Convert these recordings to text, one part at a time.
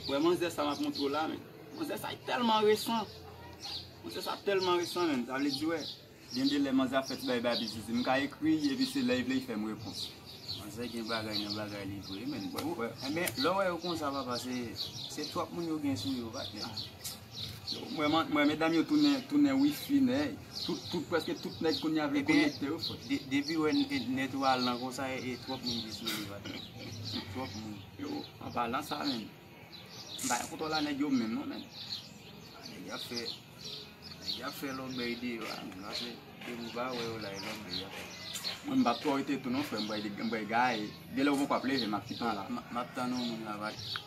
Wè manzè sa map montre w la men. Manzè sa telman resan. Manzè sa telman resan men. Sa vle di wè. Gen de lè manzè ap fè ti bagay bay betize. M ka ekri epi se lè li vle li fè m reponn. Manzè gen bagay nan bagay li vre men. Lè w wè yo konsa papa se twòp moun yo gen sou yo patnè. Mwen medam yo tounen wifi nèg. Tout preske tout nèg kounye a vle konekte yo fò. Depi wè nèt ou al lan konsa e twòp moun ki sou li bat. Twòp moun. Yo an palan sa menm. Mpa gen kontwòl a nèg yo menm non menm. Nèg yap fè nèg yap fè lòbèy de yo a menm. Mpa se depi ou pa wè yo la e lòbèy yap fè. Mwen mbap twò rete tou non frèm mwen bwè gaye. Genlè ou poko ap leve map kitan la. Map tann yon moun la bat.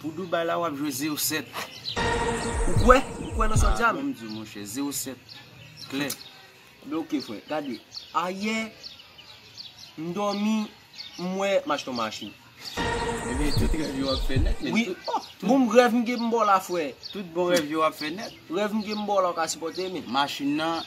Pou Dubai la wap jwe 0 7. Ou kwè? Ou kwè nan sa wap di a menm? Ah, menm di mon chè, 0 7. Klè. Be ok frè, gade. Ayè, m dòmi, m wè m achte yon machin. Ebyen tout rèv yo ap fè nèt men. Wi, bon rèv m gen m ba w la frè. Tout bon rèv yo ap fè nèt. Rèv m gen m ba w la ou ka sipòte men. Machin nan.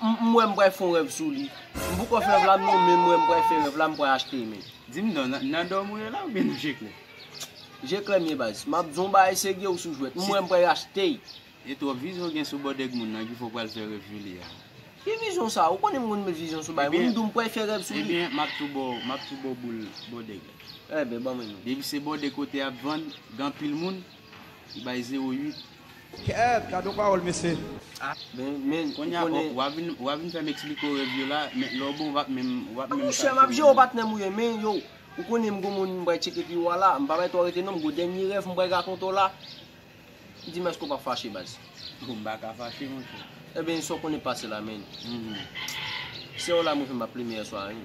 M wè m pral fon rèv sou li. M poko fè rèv la non men m wè m pral fè rèv la m pral achte men. Dim non nan dòmi ou ye la oubyen nan je klè? Je klè m ye baz. Map di w yon bagay serye ou sou jwèt. M wè m pral achte l. E twòp vizyon gen sou bòdèg moun nan ki fè w pral fè rèv sou li a. Ki vizyon sa? Ou konnen m konn met vizyon sou bagay moun m di w m pral fè rèv sou li. Ebyen map tou ba w map tou ba w boul bòdèg la. Ebyen ban mwen l non. Depi se bòdèg kote yap vann gen anpil moun li bay 08. Kèèt gadon pawòl mesye. Men ou konnen. Wap vin fèm eksplike w rèv yo la men lè w bon wap menm wap menm kalkile. Monchè map jere w patnè m ou ye men yow ou konnen m gon moun m pral tcheke pi wo a la m pa bay twò rete non m gon dènye rèv m pral rakonte w la di m èske w pap fache baz. Bon m paka fache monchè. Ebyen sa w konnen pase la men. Sè w la mwen fè m ap plimen yèswa a wi.